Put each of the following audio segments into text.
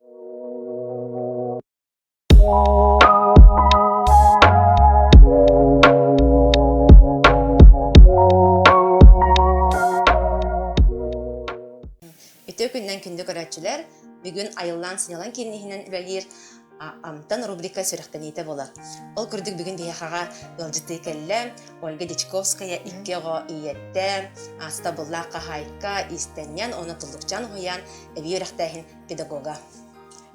Үтүө күннэн күндү көрөөччүлэр, бүгүн айыллаан сыньалаң киинниһинэн үлэлиир Амтан рубрика сүрэхтэниитэ болар. Ол курдук бүгүн биһиэхэҕэ ыалдьытыы кэллэ Ольга Дичковская икки оҕо ийэттэ, аастабыллаах хаһаайка Истэнньэн уонна Туллукчаан уһуйаан эбии үрэхтээһин педагога.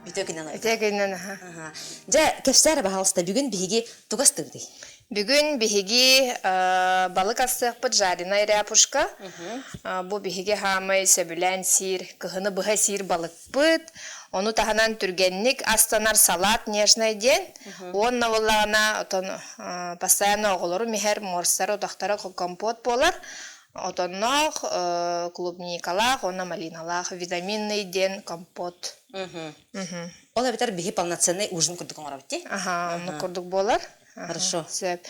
Үтөкинен Үтөкинен, аха. Дьэ, кэпсээр баһалыста, бүгүн биһиги тугас тыгытый? Бүгүн биһиги балык ассыахпыт жареная ряпушка. Бу биһиги хаамай сөбүлээн сиир, кыһыны быһа сиир балыкпыт. Ону таһынан түргэнник астанар салат нежная диэн. Уонна боллаҕына, оттон постоянно оҕолору миһэр, морстар отахтара компот буолар. отонноох, э, клубникалаах уонна малиналаах витаминный диэн компот. Ол эбэтэр биһи полноценный ужин курдук оҥоробут ти? Аха, оннук курдук буолар. Хорошо. Сөп.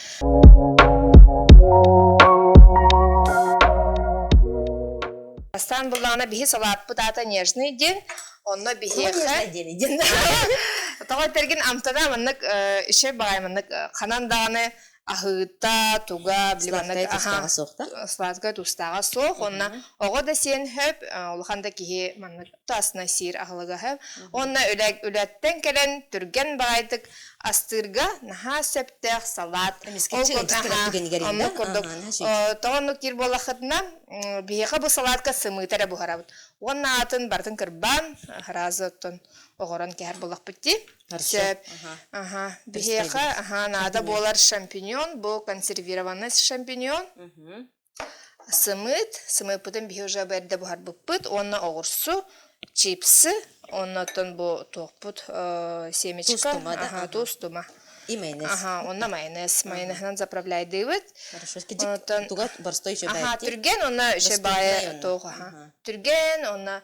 Бастаан буллаҕына биһи салааппыт аата нежный диэн, онно биһиэхэ... Нежный диэн диэн. Тоҕо этэргин амтана маннык э, үше бағай маннык э, ханан даҕаны аһыыта, туга, сладкая тустааҕа суох да? Сладкая тустааҕа суох. Онно оҕо да сиэн хөп, улахан да киһи маннык тасна сиир аһылыга хөп. Онно үлэттэн кэлэн түргэн баҕайытык астыырга наһаа сөптөөх салат. Ол курдук тоҕоннук диир буоллахытына биһиэхэ бу салатка сымыыта эрэ буһарабыт. Уонна атын бартын кырбаан араазы оттон оҕорон кэһэр болохпут дии. Сөп. Аха. Биһиэхэ аха наада буолар шампиньон бу консервированный шампиньон. Сымыыт, сымыыппытын биһи уже бэрдэ буһарбыппыт уонна оҕурсу, чипсы, оннуттан бу туохпут семечка, аха туустума. И майонез. Аха, онна майонез. Майонеһынан заправляйдыыбыт. Хорошо. Оннуттан тугат борстой еще баайти. Аха, түрген онна еще баайы тоох аха. Түрген онна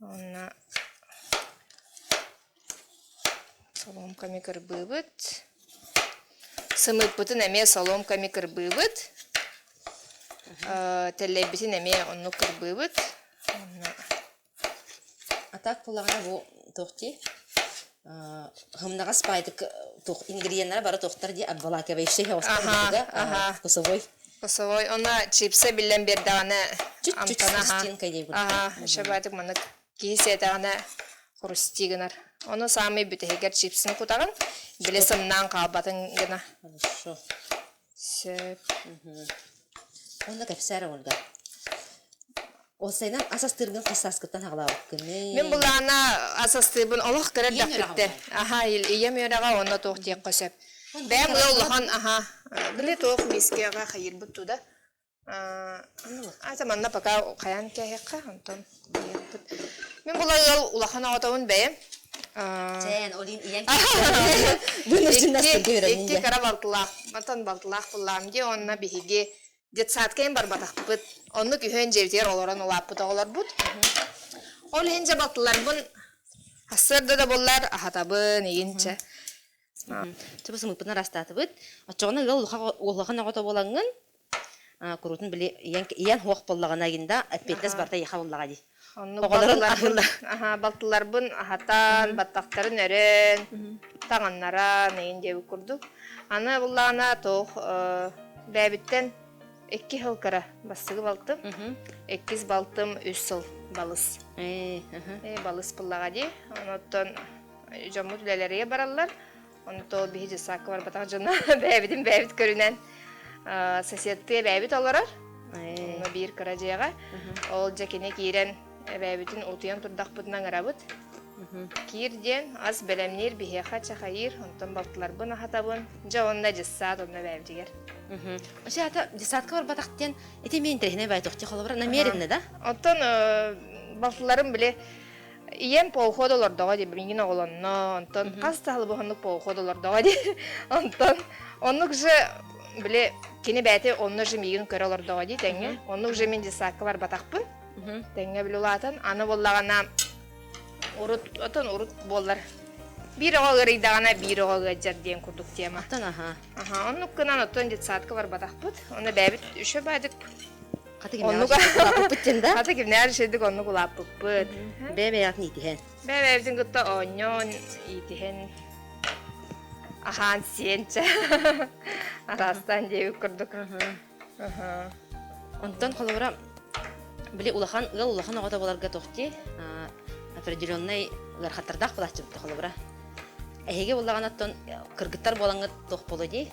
Уонна соломками кырбыыбыт. Сымыытпытын эмиэ соломками кырбыыбыт. Тэллэйбитин эмиэ оннук кырбыыбыт. Уонна... А так куллаҕана бу туох дии? Хамнаҕас паайтык туох ингредиеннара бара туохтар дии обволакивающие вкусовой вкусовой она чипсы билэн биэрдэҕинэ амтана хрустинка дии аха шабатык маннык киһи сиэтэҕинэ хрустий гынар ону саамай бүтэһигэр чипсин кутаҕын били сымнаан хаалбатын гына хорошо Сөп. Онно кэпсээр оҥордо. Ол сайынан ас астыыргын хас сааскыттан аҕалаабыккыный? Мин былаана ас астыырбын олох кыра Ийэм эрдэхпиттэ. Аһаа, ил- ийэм үөрэҕэ онно туох диэххэ сөп. Бэйэм ыал улахан, аһаа. Били туох миискэҕэ хайыырбыт туда. Ата манна пока хайан кэһиэххэ, онтон быйыппыт. Мин була ыал улахан оҕотомун бэйэм. Чээн, олин ийэн Икки кара балтылаах, матан балтылаах буллаам дии, онно биһиги детсадкайын барбатахпыт. Онну күһүн дьиэбитигэр олорон улааппыт оҕолорбут. Ол иһин дьэ балтыларбын ассыарда да буллар, аһатабын ийинчэ. Тыбыс ымыппытын ырастаатыбыт. Оччоҕуна ыал улахан оҕото буолаҥҥын куруутун били ийэн хуох буллаҕына гин да эппиэттэс барта еха буллаҕа дии. Оҕолорун аһыыллар. Аха балтыларбын аһатан, баттахтарын өрөөн, таҥаннаран эйин диэбит курдук. Аны буллаҕына тоох бэбиттен икки сыл кыра бассыгы балтым. Иккис балтым үс сыл балыс. Э, балыс буллаҕа дии. Оноттон дьоммут үлэлэригэр бараллар. Онто биһи дьыссаакка барбатах дьоно бэйэбитин бэйэбит көрүнэн соседтыы эбээбит олорор. Онно биир кыра дьиэҕэ. Ол дьэ кини киирэн эбээбитин утуйан турдахпытына ыҥырабыт. Киир диэн ас бэлэмниир биһиэхэ чахайыыр, онтон балтыларбын аһатабын. Дьэ онно дьыссаат онно эбээбитигэр. Оччо дьыссаатка барбатах диэн ити мен интэриһинэй байтуохтия холобура намеренно да? Оттон балтыларым били ийэм полход олордоҕо дии билигин оҕолонно онтон хас да халыбыһаннык полход олордоҕо дии онтон оннук же били кини бэйэтэ онно же миигин көрө олордоҕо дии тэҥҥэ оннук же мин детсадка барбатахпын тэҥҥэ биле улаатан аны буоллаҕына урут отон урут буоллар биир оҕо ыарыйдаҕына биир оҕо ыадьар диэн курдук тема оттон аха аха оннук гынан оттон детсадка барбатахпыт оны бэйэбит үчө баадык Хата кимнээх улааппыппыт да? Хата кимнээх шедик оннук улааппыппыт. Бэбэятын иитиһэн. Бэбэбитин кытта оонньоон, иитиһэн. Ахан сиэнчэ. Атастан диэбит курдук. Онтон холобура били улахан ыал улахан оҕото боларга тохти определенный ыархаттардаах булаччыбыт холобура. Эһиги буллаҕан оттон кыргыттар буолаҥыт туох боло дии?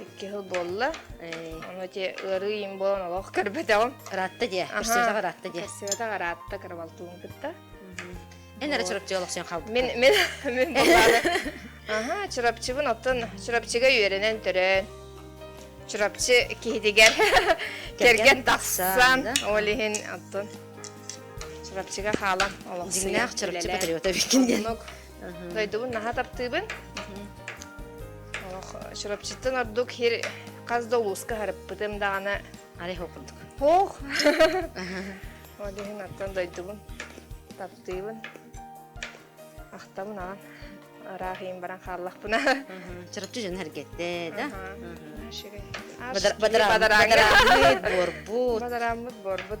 Икки хыл буолла. Ону те ыарыы им болон олох көрбөтөҕүм. Ыраатта дие. Көрсөтөҕ ыраатта дие. Көрсөтөҕ ыраатта кырабалтуун кытта. Эн эре чурапчы олохсен халбыт. Мен мен мен боллады. Аха, чурапчыбын оттон чурапчыга үөрэнэн төрөөн. Чурапчы киһитигэр кэргэн тахсан, ол иһин оттон Чурапчыга хаалан олохсуйа. Дигнах чурапчы патриота биккин диэн. Дойдубун наһа таптыыбын. Олох Чурапчыттан ордук хир хас да улууска харыппытым даҕаны арих окурдук. Ох! Ол иһин аттан дойдубун таптыыбын. Ахтабын аҕан. Араах иин баран хааллахпына. Чурапчы дьон эргэтте, да? Бадарааммыт борбут. Бадарааммыт борбут.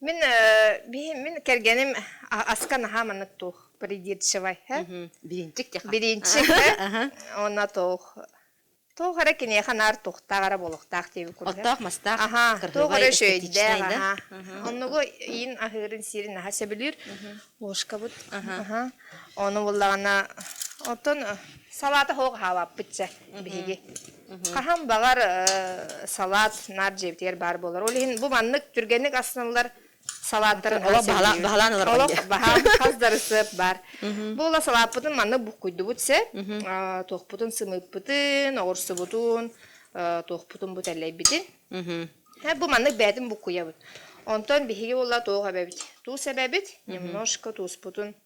Мин мин кэргэним аска наһаа маннык туох придирчивай һэ бириинчик бириинчик һэ онно туох туох эрэ киниэхэ наар туохтаах эрэ буолуохтаах диэби курдук оттоох мастаах аха туох эрэ өшөйдээх аха оннугу иин аһыырын сиирин аха сөбүлүүр ложкабыт аха ону буллаҕына оттон салаата хоох хаалаппытча биһиги Хаһан баҕар салат наар дьиэбитигэр баар буолар. Ол иһин бу маннык түргэнник астынылар салааттарын олох баһылаан ылар олох баһаам хас да рецепт баар. Бу ыла салааппытын маннык буккуйдубут сеп, туохпутун сымыыппытын, оҕурсубутун, туохпутун бу тэллэйбитин. Бу маннык бээтин буккуйабыт. Онтон биһиги була туох эбэбит? Туус эбэбит немножко тууспутун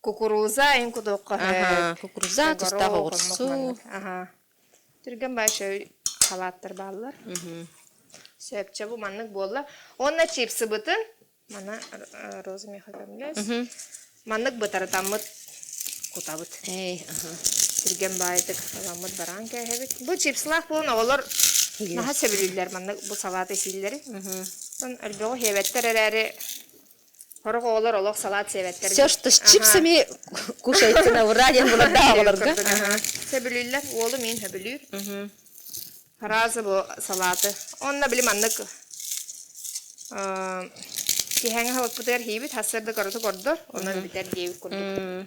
Кукуруза ин кудуокка. Аха, кукуруза тустаах оҕурсу. Аха. Түргэн башы халаттар бааллар. Сөпчө бу маннык буолла. Онна чипсы бытын. Мана Роза Михайловна Маннык бытаратаммыт кутабыт. Эй, аха. Түргэн баайтык халаммыт бараан кээһэбит. Бу чипсылаах буолан оҕолор наһа сөбүлүүллэр маннык бу салаты сииллэри. Сон өлбөҕө хиэбэттэр эрээри Сорох оҕолор олох салат сиэбэттэр. Все, что с чипсами кушайте на ура диэн буларда оҕолорго. Сөбүлүүллэр. Уолу мин сөбүлүүр. Араазы бу салаты. Онно били маннык киһэҥ халыкпытыгар хийбит хасырды короту кордор, онон бүтэр диэбит курдук.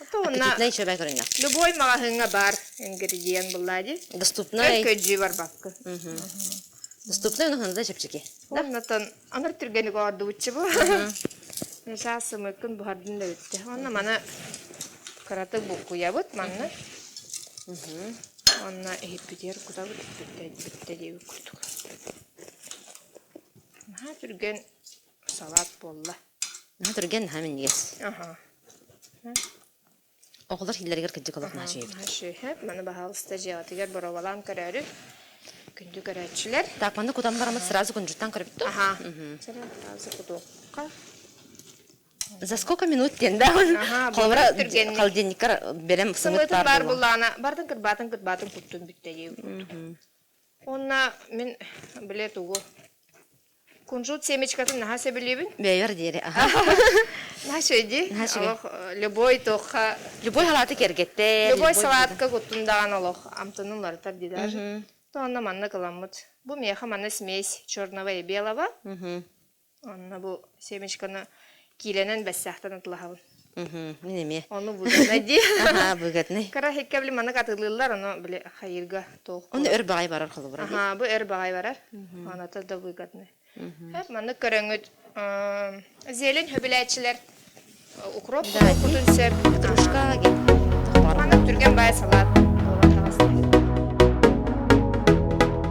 Доступнай шөбө көрүҥэ. Любой маҕаһыыҥҥа баар ингредиент быллаа дии. Доступнай. Көлдьүү барбаккын. Доступнай унаһын да чэпчэки. Оннотон анар түргэнник оордубуччу бу. Муса сымыыккын буһардын да бүтте. Онно маны кыратык буккуйабыт манна. Онно иһиппитигэр кутабыт бүтте бүтте диэбит курдук. Наһаа түргэн салаат буолла наһаа түргэн наһаа минньигэс аха оҕолор иллэригэр кырдьык олох наһаа үчүгэй наһаа үчүгэй маны баһаалыста дьиэҕитигэр боруобалаан көрөөрү күндү көрөөччүлэр так манна кутан бараммыт сразу кунжуттан көрбүт ту аха сразу кутуохха за сколько минут диэн да холобура холодильниккар берем сымыытын баар булаана бардын кырбаатын кырбаатын куттун бүттэрии курдук онна мин билет угу Кунжут семечкатын наһаа сөбүлүүбүн. Бэйбэр диэри, аха. Наһаа үчүгэй Наһаа үчүгэй. Олох э, любой тохха, Любой салааты кэргэттэр. любой салатка куттун даҕан олох амтаны уларытар ди даже. То онно манна кыламмыт. Бу миэхэ манна смесь черного и белого. Онно бу семечканы Киилэнэн бэссээхтэн атылаһабын. Мин эмиэ. Ону быгатнай дии. Аха, быгатнай. Кыра һиккэ били маннык атылыыллар, ону били хайыырга толку. Ону өр баҕай барар холобура дии. Аха, бу өр баҕай барар. Аната да быгатнай. Эп маннык көрөҥҥүт зелень хөбүлээччилэр укроп кутун сөп. Петрушка маннык түргэн бай салат буолар таҕыс.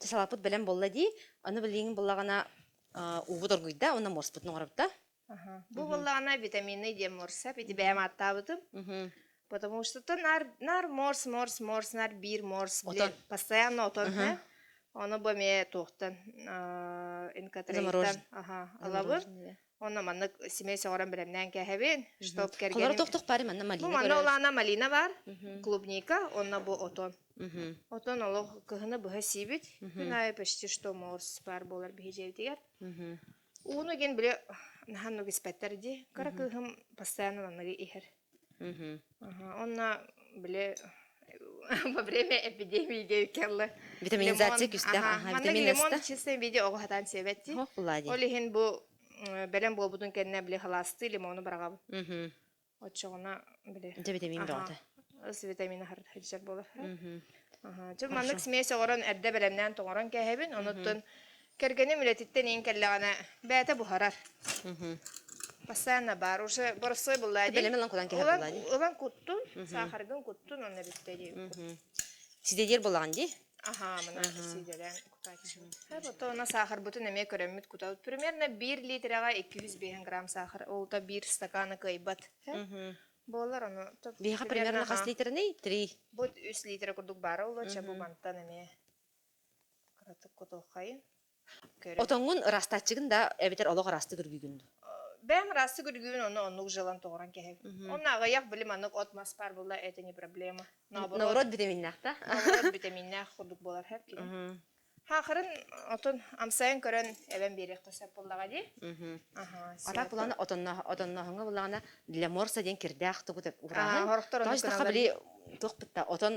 Салаппыт белем болла дии, аны билиҥ буллаҕына уубут оргуйда, уонна морспутун оҥорбута. Бу буллаҕына витаминный диэн морсап, ити бэйэм ааттаабытым. Потому что наар наар морс морс морс наар биир морс билэн постоянно отонно. Ону бу эмиэ туохтан инкатрейттан аха алабыр Онно маннык семей сөҕөрөн бэлэмнээн кээһэбин, чтоб кэргэним... Холор тохтох пари манна малина Бу манна улаана малина бар, клубника, онно бу отон. Отон олох кыһыны быһа сибит, күн айы почти что морс бар болар биһижевдигер. Ууну ген биле нахан нугиспеттер ди, кара кыһым постоянно аныгы ихер. Мгм. Ага, онно били во время эпидемииге кэллэ Витаминизация лимон күстэх, аха, аха, манна витамин лимон астах. чистный виде оҕо сатаан сиэбэттии. Оһох булади. Ол иһин бу м, бэлэм буолбутун кэннэ били халаастыы лимону бараҕабын. Мгм. Оччоҕуна били Дьэ витамин аха бөҕөтө. ыс витамина сылдьар буолар. Мгм. Аха. Дьэ маннык Хорошо. смесь оҥорон эрдэ бэлэмнээн тоҥорон кээһэбин, Мгм. онуттан Кэргэним үлэтиттэн иин кэллэҕинэ, бэйэтэ буһарар. Постоянно бар. Уже боростой буллади. Бэлэм ылан кутан кэһэ буллади. Ылан куттун, сахаргын куттун, онно бүттэрии. Сидедер булаҕын дии? Аха, мына сидерэн кутааччым. Вот она сахарбытын эмиэ көрөммүт кутабыт. Примерно 1 литраҕа 250 грамм сахар, ол то 1 стакана кыайбат. Буолар ону. Биһиэхэ примерно хас литрный? Три. Бу 3 литра курдук баара улуча бу бантан эмиэ. Отоҥҥун ыраастааччыгын да эбэтэр олох ыраастык үргүгүн дуу? Бэм ыраастык үргүгүн ону оннук жилан тоҕуран кэһэбин. Онно аҕыйах били маннык от мас баар була это не проблема. Нооборот витаминнаах да? Нооборот витаминнаах курдук болар хэр кини. Хаахырын отун амсайын көрөн эбэн биэриэххэ сөп буллаҕа дии. Ара булана отонноохоҥҥа буллаҕына для морса диэн кирдээх тугут уураһын. Тоҕо били туох пытта отон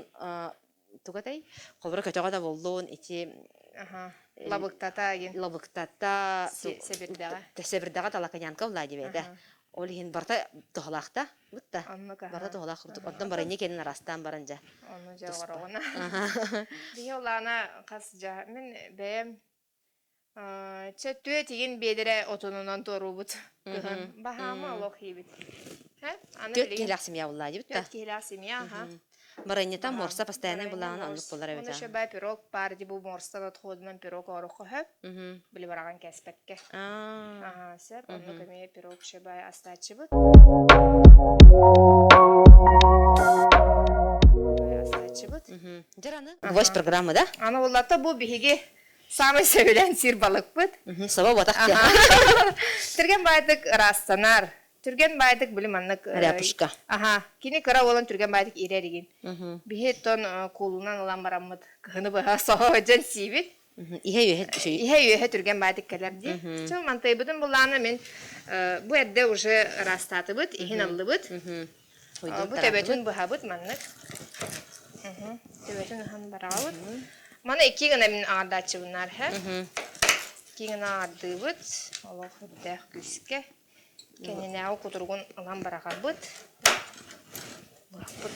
Туга дай? Холборо көтөҕө да буллун, ити аха, Эн лабыктата ин. лабыктата Су- сэбирдэҕэ. сэбирдэҕэ талаканянка улаа дибээдэ. Аха. Ол иһин барта тоһолаахта бытта. Оннук аха. Барта тоһолаах курдук. Ордон баранья кэнин араастаан баран дьа. Ону дьа Туспа. оҕороҕуна. Аха. Биһи улаана хас дьа. Мин бэйэм Чэ, тыа тигин биэдэрэ отонунан туоруубут ыһан баһаама олох иибит. Һэ, аны Түөрт билигин киһилээх семья буллаа дибит да. төрт киһилээх семья, аха. Баранньыта Аха, морса постояннай баранньы былаана морс, оннук булар эбит Ону а. шөбө пирог паар дибу морстан отходунан пирог оорохо хөп, Мгм. били бараҕан кэспэккэ. Аа. Аха, сөп, оннук Мгм. эмиэ пирог шөбө астааччыбыт. Астааччыбыт. Мгм. Дьэр аны Гвоздь Аха. программа да? Аны буллата бу биһиги Саамай сөбүлээн сир-балыкпыт. Саба батах Түргэн баайдык ыраасsanар. Түргэн баайдык били маннык э, Ряпушка. Аха, кини кыра уолан түргэн баайдык иирэ эригин. Биһи тон э, куулунан ылан бараммыт кыһыны быһа соһо дьэн сиибит. Ihe үөһэ үчү. Ihe үөһэ түргэн баайдык кэлэр ди. Чыл мантайбытын булаана мин э, бу эрде уже ыраастаатыбыт, иһин аллыбыт. Бу төбөтүн быһабыт маннык. Төбөтүн аһан барабыт. Маны икки гына мин аардааччыбынаар һэ. Икки гына аардыыбыт. Олох өттээх күүскэ. Кэннинээҕи кутуругун ылан барахарбыт. Бырахпыт.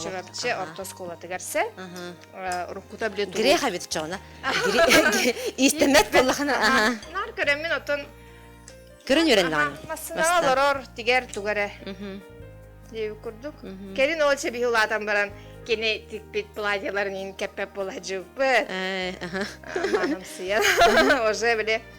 Чурапчы орто оскуолатыгар се. Уруккута биле тугу? Грех эбит чоҕуна. Иистэммэт боллахана. Нар көрөммүн оттон Көрөн үөрэн даҕаны. Массыына олорор тигэр туга эрэ. Дии курдук. Кэлин ол чэбиһи улаатан баран кини тикпит платьяларын ин кэппэп була жыппыт. Манымсыян. Уже биле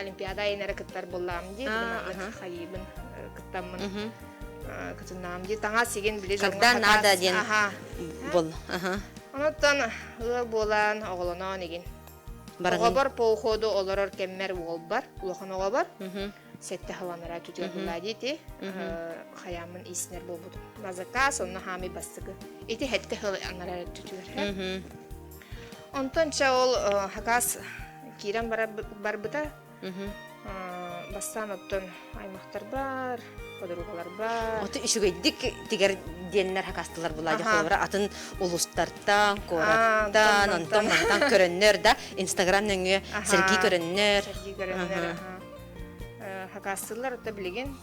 олимпиада айын эрэ кыттар буллаам дии тыгымаатык хайыыбын кыттаммын кытыннаам дии таҥа сигин били когда надо диэн бол онуттан ыал буолан оҕолоноон игин оҕобор по уходу олорор кэммер уолбар улахан оҕобор сетте халанара түтүө булла дити хаямын иснер болбут на заказ онна хаами бастыгы ити хетте хыл анара түтүөр Онтон чэ ол хакаас киирэн барбыта. Бастаан оттон аймахтар бар, подругалар бар. Ото үчүгэйдик тигэр диэннэр хакастылар былаадьахталара атын улустартан, куораттан, онтон мантан көрөннөр да Инстаграм нөҥүө сэргии көрөннөр. Сэргии көрөннөр хакастылар, ото билигин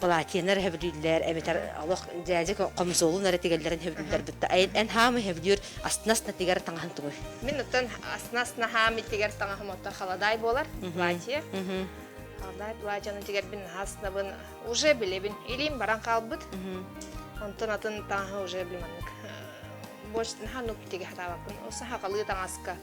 палатинар өһөбүлүүллэр эбэтэр олох дьээдьэ комсолун эрэ тигэллэрин өһөбүлүүллэр бытта эн хаам өһөбүлүүр астына-астына тигэр таҥаһын тугуй мин оттон астына-астына хаам иттигэр таҥаһым оттон халадай буолар платье халадай платьены тигэрбин астынабын уже билебин илиим баран хаалбыт онтон атын таҥаһы уже билманнык больше наһаа нук тигэ хатаабаппын сахалыы таҥаска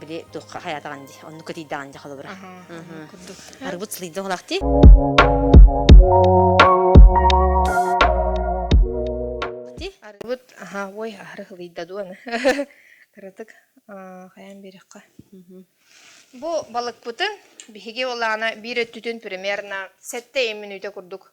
били туохха хаятаҕан ди онну кытыйдаҕан дьа холобура арбыт сылыйда олахти арбыт аха ой ары хылыйда дуон кыратык хаян берехка бу балыкпытын биһиги олаана биир өттүтүн примерно сэтте ин мүнүүтэ курдук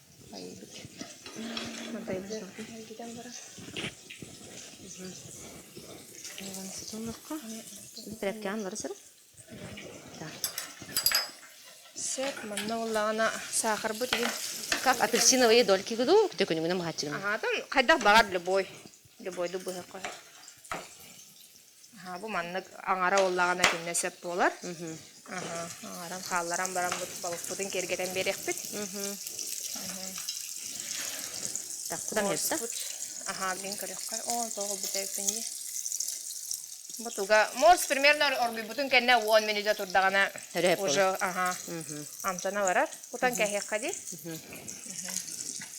Сет, манна уллаҕана саахарбыт игин. Как апельсиновые дольки году, кто күнүгүнэ махаччырым. Аһатын хайдах баҕар любой. Любойду быһа Аһа, бу маннык аҥара буоллаҕына итиннэ сөп буолар. Аһа, аҥаран хаалларан баран балыкпытын киэргэтэн биэриэхпит. Так, куда мне это? Ага, блин, көрөххө. О, тоҕо бүтээппин дии. Бу туга морс примерно оргуйбутун кэннэ уон минута турдаҕына уже ага амтана барар. Кутан кэһиэххэ дии.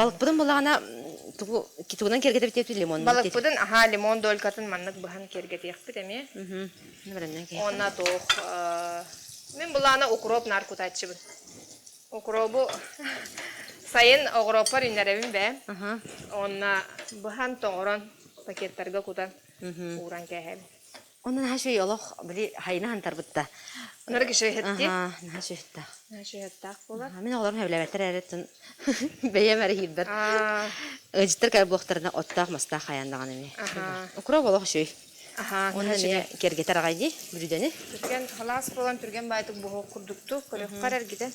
Балыкпытын булаҕына тугу тугунан киэргэтэбит диэбит лимонну Балыкпытын аһаа лимон долькатын маннык быһан киэргэтиэхпит эмиэ. Уонна туох мин былаана укроп наар кутааччыбын. Укропу сайын огороппор иннэрэбин бээ. Уонна быһан тоҥорон пакеттарга кутан ууран кээһэбин. Оны наһаа үчүгэй олох били хайына хантарбытта. Нары кишеһетти. Аха, наһаа үчүгэттаах. Наһаа үчүгэттаах болар. Мин оҕолорум сөбүлэбэттэр эрэ тын бэйэм эрэ хийрбэр. Ыжыттар кай буохтарына оттаах мастаах хайан даҕан эми. Укроп олох үчүгэй. Аха, Оны эмиэ кергетер аҕай дии бүлүдэни. Түргэн халаас болан түргэн байтык буһу курдукту көрөхкар эргитен.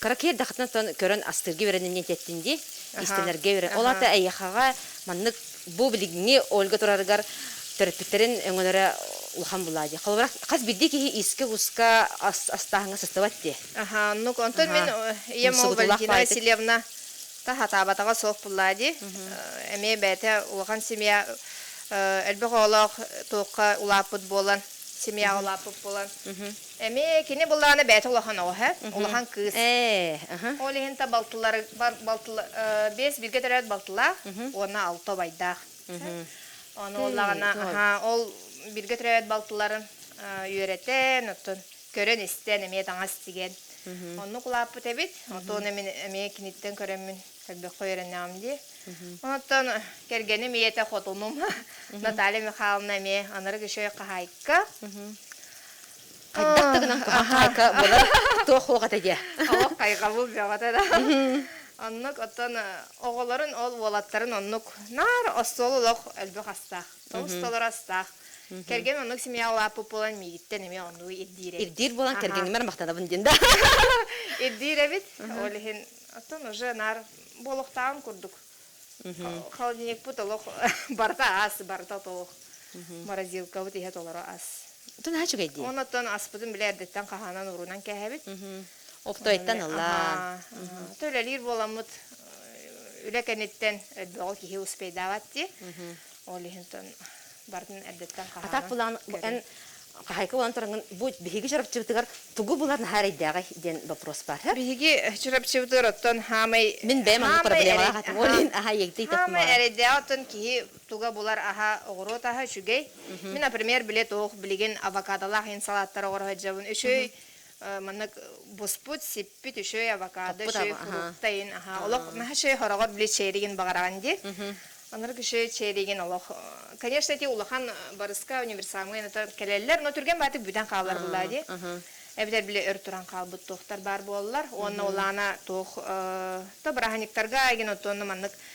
Кыракый эрдэхтэн тон көрөн астыырга үөрэнэн диэн тэттин дии, истэнэргэ үөрэн. Ол аата эйиэхэҕэ маннык бу билиҥҥи Ольга турарыгар төрөппүттэрин өҥөлөрө улахан булаа дии. Холобура, хас биирдии киһи иискэ-куска ас астааһыҥҥа сыстыбат дии. Аха, ну онтон мин ийэм ол Валентина Васильевна таһатаабатаҕа суох булаа дии. Эмиэ бэйэтэ улахан семья элбэх оҕолоох туохха улааппыт буолан, семьяҕа улааппыт буолан Эмиэ кини былаана бэйэтэ улахан оҕо эһэ, улахан кыыс. Ол иһин та балтылары биэс бииргэ төрөөт балтылаах уонна алта убайдаах. Ону ол бииргэ төрөөт балтыларын үөрэтэн, оттон көрөн-истэн, эмиэ таҥас тигэн оннук улааппыт эбит. Оттон эмиэ киниттэн көрөммүн көрбөххө үөрэнэҕим дии. Оттон кэргэним ийэтэ хотунум Наталья Михайловна эмиэ анарыг үчүгэй хаһаайка. Хайдах да гынан кабак хайка болар туох хуоҕата диэ. О хайҕабыл дьабата да. Оннук оттон оҕолорун ол уолаттарын оннук наар остуол олох элбэх астаах. Тоҕус толор астаах. Кэргэн оннук семья лаппы болан миигиттэн эмиэ оннук ирдиирэ. Ирдиир болан кэргенімер махтанабын диин да. Ирдиир эбит. Ол иһин оттон уже наар болохтаан курдук. Холодильникпыт олох барыта ас, барыта толох. Морозилкабыт иһэ толору ас. Оттон аһа үчүгэй дии. Оннуттан аспытын били эрдэттэн хаһаанан уруунан кээһэбит. Оптойтан ыллаан. Төлөлүүр буоламмыт үлэ кэнниттэн өрбөҕө киһи успейдаабат дии. Ол иһинтэн бардын эрдэттэн хаһаайын. Атак булан эн хаһайка булан турангын бу биһиги чарапчыбытыгар тугу булар наһаайдааҕый диэн вопрос бар. Биһиги чарапчыбытыгар оттон хаамай Мин бэйэм аны проблемалаах атым. Ол иһин аһа егдей Хаамай такма. эрэйдээх оттон киһи туга булар аһа оҕуруот аһа үчүгэй. Мин, например, биле туох билигин авокадолаах ин салаттар оҕор сылдьабын үчүй Манна буспут, сиппит үчүгэй авокадо, үчүгэй фруктайын, олох маһа үчүгэй хороҕор били чээригин баҕараҕын дии. Анарк үчүгэй чээригин олох. Конечно, эти улахан барыска универсамҥа кэлэллэр, но түргэн баатык бүтэн хаалар былаа дии. Эбэтэр били өр туран хаалбыт туохтар баар буоллар. Уонна улаана туох то быраһанниктарга иген оттонну маннык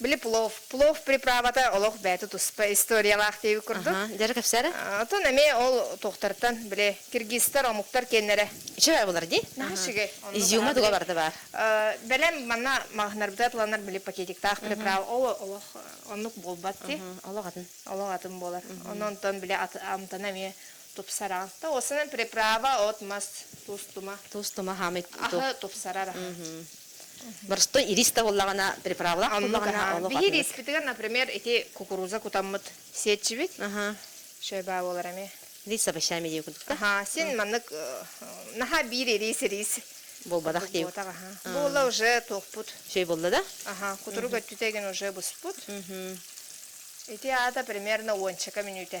Били плов. Плов приправата олох бэйэтэ туспа историялаах диэбит курдук. Дьара кэпсээрэ? Оттон эмиэ ол туохтартан, били, киргизтар, омуктар киэннэрэ. Үчүгэй булар дии. Наһаа үчүгэй. Изюма туга барыта баар. Бэлэм манна маҕаһынарга ыланар били пакетиктаах приправа ол олох оннук буолбат дии. Олох атын. Олох атын буолар. Онон-онтон били амтана эмиэ тупсара. Ол санаан приправа от-мас, туус-тума. Туус-тума хаамый. Аһы тупсарар. Борстой ириз табыллаҕына, приправлах буллаҕына олох Биһиги ириспитигэр, например, ити кукуруза кутаммыт сиэччибит. Аха. Шөйбаа буолар эмиэ. Лиса овощами дии кудукта. Аха, син маннык наһаа биир ириис ириис Буолбатах дии. Буолла уже туохпут. Шөй болла да? Аха, кутурук өттүтэ гин уже буспут. Ити аата примерно уончака мүнүүтэ.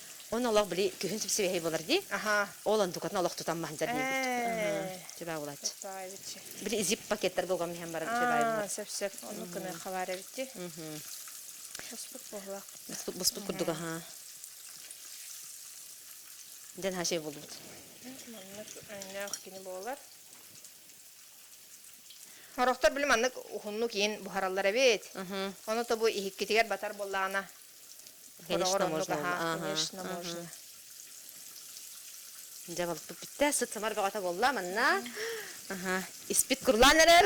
Оны олох били күһүн сипсибэһий болар дии. Аха, ол андукатын олох тутан маһынчар диэбит. Чүбэ булач. Били зип пакеттар голгом нихен баран чүбэ Сөпсөп, ону кыны халар эбити. Буспут буһлак. Буспут буспут курдуга ха. Ден хашей болбут. Маннык өннөөх кини болар. Хороктор билим аннык ухуннук иин буһараллар эбит. Оны тобу иһиккитигер батар боллаана Конечно можно. Конечно можно. Дьэ балыкпыт битте, сыт сымар бөҕөтө болла манна. Аха, испит курлан эрэр.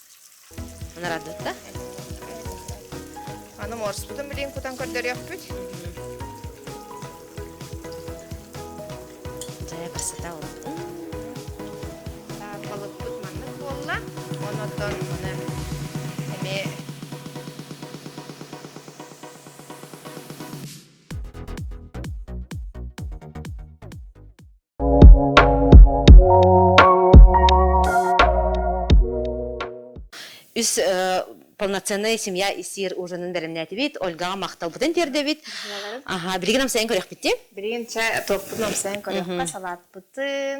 Нарадытта? Аны морспутун билин кутан көрдөрүөхпүт. Дьайа барсата ол. Балыкпыт маннык буолла. Онотон муна эмиэ үс полноценная семья исиир ужинын бэлэмнээтибит ольгаҕа махталбытын тиэрдэбит аха билигин амсайын көрүөхпүтүн билигин чэ туохпут амсайын көрүөхпэ салаатпытын